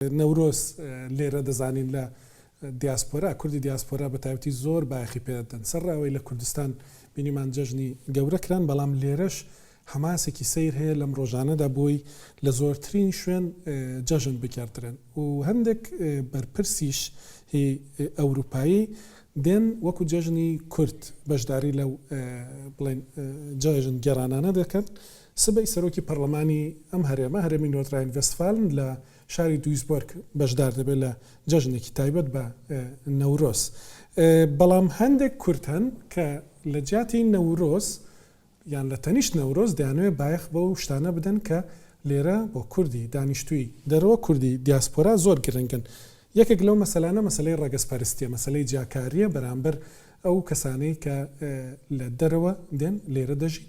نەورۆز لێرە دەزانین لە دیاسپۆرا، کوردی دیاسپۆرا بە تایبەتی زۆر بایەخی پێ دەدەن. سەرڕای ئەوەی لە کوردستان بینیمان جەژنی گەورە کران، بەڵام لێرەش حەماسێکی سەیر هەیە لەم ڕۆژانەدا بۆی لە زۆرترین شوێن جەژن بگێڕدرێن و هەندێک بەرپرسیش هی ئەوروپایی دێن وەکو جەژنی کورد بەشداری لەو بڵێن جەژن گێڕانانە دەکەن سبەی سەرۆکی پەرلەمانی ئەم هەرێمە، هەرێمی نۆرت ڕاین ڤێستفالن لە شاری دویسبۆرگ بەشدار دەبێت لە جەژنێکی تایبەت بە نەورۆز. بەڵام هەندێک کورد هەن کە لە جیاتی نەورۆز یان لە تەنیشت نەورۆز دەیانەوێت بایەخ بەو شتانە بدەن کە لێرە بۆ کوردی دانیشتووی، دەرەوە کوردی دیاسپۆرا زۆر گرنگن. یەکێک لەو مەسەلانە مەسەلەی ڕەگەزپەرستییە، مەسەلەی جیاکارییە بەرامبەر ئەو کەسانەی کە لە دەرەوە دێن لێرە دەژین.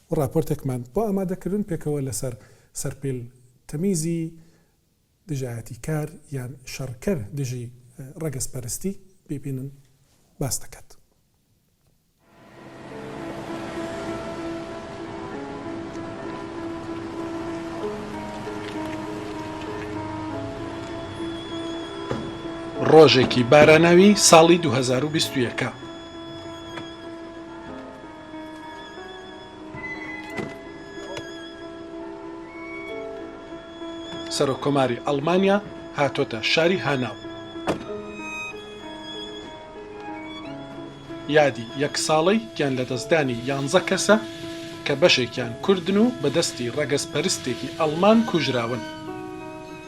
و ڕاپۆرتێکمان بۆ ئامادەکردن پێکەوە لەسەر سەرپێل تەمیزی دژایەتی کار یان شەڕکەر دژی ڕەگەزپەرستی بیبینن باس دەکات. ڕۆژێکی باراناوی ساڵی دوو هەزار و بیست و یەک. سەرۆککۆماری ئەڵمانیا هاتۆتە شاری هاناو یادی یەک ساڵەی گیان لەدەستدانی یانزە کەسە کە بەشێکیان کوردن و بەدەستی ڕەگەزپەرستێکی ئەڵمان کوژراون.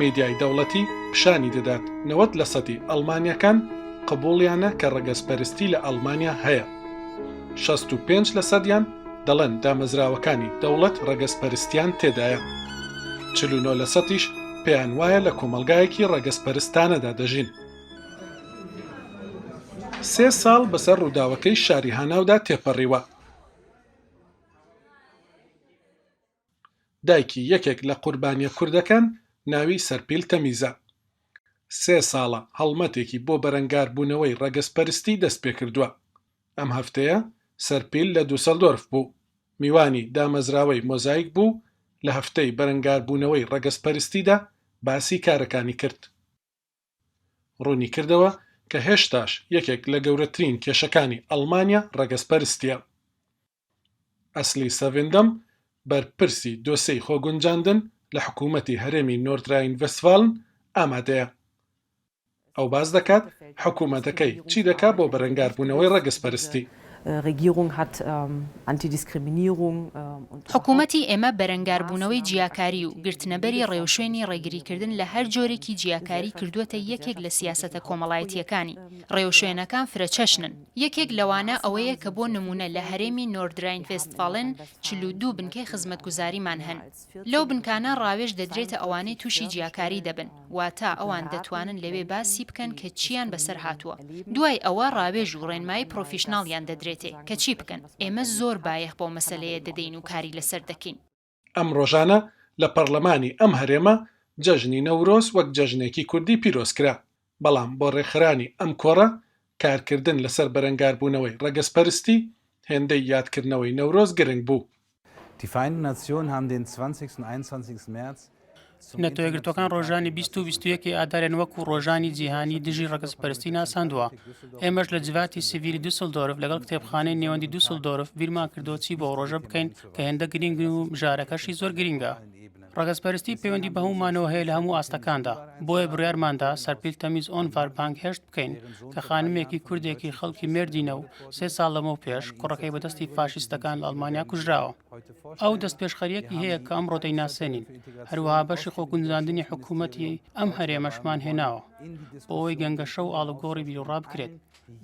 میدیای دەوڵەتی پیشانی دەدات نەوەد لە سەدی ئەڵمانییەکان قبوڵیانە کە ڕەگەزپەرستی لە ئەڵمانیا هەیە، شەست و پێنج لە سەدیان دەڵێن دامەزراوەکانی دەوڵەت ڕەگەزپەرستیان تێدایە، چل و نۆ لە سەدیش پێیان وایە لە کۆمەڵگایەکی ڕەگەزپەرستانەدا دەژین. سێ ساڵ بەسەر ڕووداوەکەی شاری هاناودا تێپەڕیوە، دایکی یەکێک لە قوربانییە کوردەکان ناوی سەرپیل تەمیزە، سێ ساڵە هەڵمەتێکی بۆ بەرەنگاربوونەوەی ڕەگەزپەرستی دەستپێکردووە. ئەم هەفتەیە سەرپیل لە دوسەلدۆرف بوو، میوانی دامەزراوەی مۆزایک بوو و لە هەفتەی بەرەنگاربوونەوەی ڕەگەزپەرستیدا باسی کارەکانی کرد. ڕوونیکردەوە کە هێشتاش یەکێک لە گەورەترین کێشەکانی ئەڵمانیا ڕەگەزپەرستییە. ئەسلی سەڤیندەم، بەرپرسی دۆسێی خۆگونجاندن لە حکوومەتی هەرێمی نۆردراین ڤێستفالن ئامادەیە. ئەو باس دەکات حکوومەتەکەی چی دەکات بۆ بەرەنگاربوونەوەی ڕەگەزپەرستی. حکوومەتی ئێمە بەرەنگاربوونەوەی جیاکاری و گرتنەبەری ڕێوشوێنی ڕێگریکردن لە هەر جۆرێکی جیاکاری کردووەتە یەکێک لە سیاسەتە کۆمەڵایەتییەکانی. ڕێوشوێنەکان فرەچەشنن. یەکێک لەوانە ئەوەیە کە بۆ نموونە لە هەرێمی نۆردراین-ڤێستفالن چل و دوو بنکەی خزمەتگوزاریمان هەن. لەو بنکانە ڕاوێژ دەدرێتە ئەوانەی تووشی جیاکاری دەبن، واتە ئەوان دەتوانن لەوێ باسی بکەن کە چییان بەسەر هاتووە. دوای ئەوە ڕاوێژ و ڕێنمایی پڕۆفیشناڵیان دەدرێتێ کە چی بکەن. ئێمە زۆر بایەخ بەو مەسەلەیە دەدەین و کاری لەسەر دەکەین. ئەم ڕۆژانە لە پەڕلەمانی ئەم هەرێمە جەژنی نەورۆز وەک جەژنێکی کوردی پیرۆز کرا، بەڵام بۆ ڕێکخەرانی ئەم کۆڕە کارکردن لەسەر بەرەنگاربوونەوەی ڕەگەزپەرستی، هێندەی یادکردنەوەی نەورۆز گرنگ بوو. نەتەوە یەکگرتووەکان ڕۆژانی 20 و 21 ی ئادارێن وەکو ڕۆژانی جیهانی دژی ڕەگەزپەرستی ناساندووە ئێمەش لە جڤاتی سڤیلی دوسلدۆرف لەگەڵ کتێبخانەی نێوەندی دوسلدۆرف بیرمان کردەوە چی بۆ ئەو ڕۆژە بکەین کە هێندە گرنگ و مژارەکەشی زۆر گرنگە ڕەگەزپەرستی پەیوەندی بە هەموومانەوە هەیە لە هەموو ئاستەکاندا بۆیە بڕیارماندا سەرپیل تەمیز ئۆنڤار بانگهێشت بکەین کە خانمێکی کوردێکی خەڵکی مێردینە و سێ ساڵ لەمەو پێش کوڕەکەی بەدەستی فاشیستەکان لە ئەڵمانیا کوژراوە. ئەو دەستپێشخەریەکی هەیە کە ئەمڕۆ دەیناسێنین هەروەها بەشی خۆگونجاندنی حکوومەتی ئەم هەرێمەشمان هێناوە بۆەوەی گەنگەشە و ئاڵوگۆڕی بیرڕا بکرێت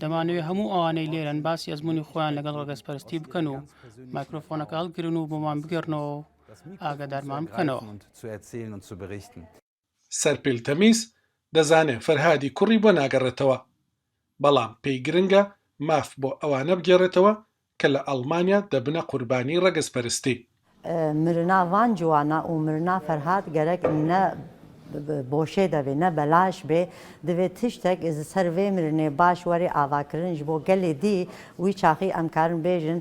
دەمانەوێت هەموو ئەوانەی لێرەن باسی ئەزمموی خۆیان لەگەڵ ڕگەزپەرستی بکەن و مایکرۆفۆنەکە هەڵگرن و بۆمان بگەڕنەوە ئاگادارمان بکەنەوە. سەرپێل تەمیز دەزانێ فەرهادی کوڕی بۆ ناگەڕێتەوە، بەڵام پێی گرنگە ماف بۆ ئەوانە بگێڕێتەوە کە لە ئەڵمانیا دەبنە قوربانی ڕەگەزپەرستی. مرنا ڤان جوانا و مرنا فەرهاد گەرەک نە بۆشێ دەێ نە بەلاش بێ دەێ تشتەک سەر ڤێ مرنێ باش وەێ ئاڤاکرنش بۆ گەلێ دی وی چاخی ئەمکارن بێژن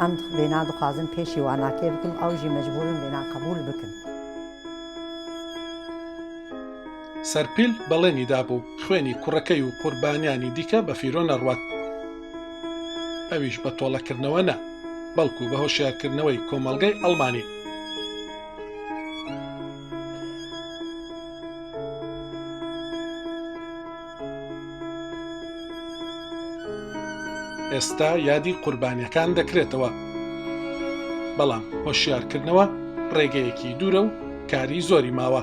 ئەم وێنا دخوازم پێشی واناکێ بکم ئەوژی مەجبورن وێنا قبول بکن. سەرپیل بەڵێنی دابوو خوێنی کوڕەکەی و قوربانیانی دیکە بە فیرۆ نەڕوات، ئەویش بە تۆڵەکردنەوە نا، بەڵکو بە هۆشیارکردنەوەی کۆمەڵگەی ئەڵمانی. ئێستا یادی قوربانیەکان دەکرێتەوە بەڵام هۆشیارکردنەوە ڕێگەیەکی دوورە و کاری زۆری ماوە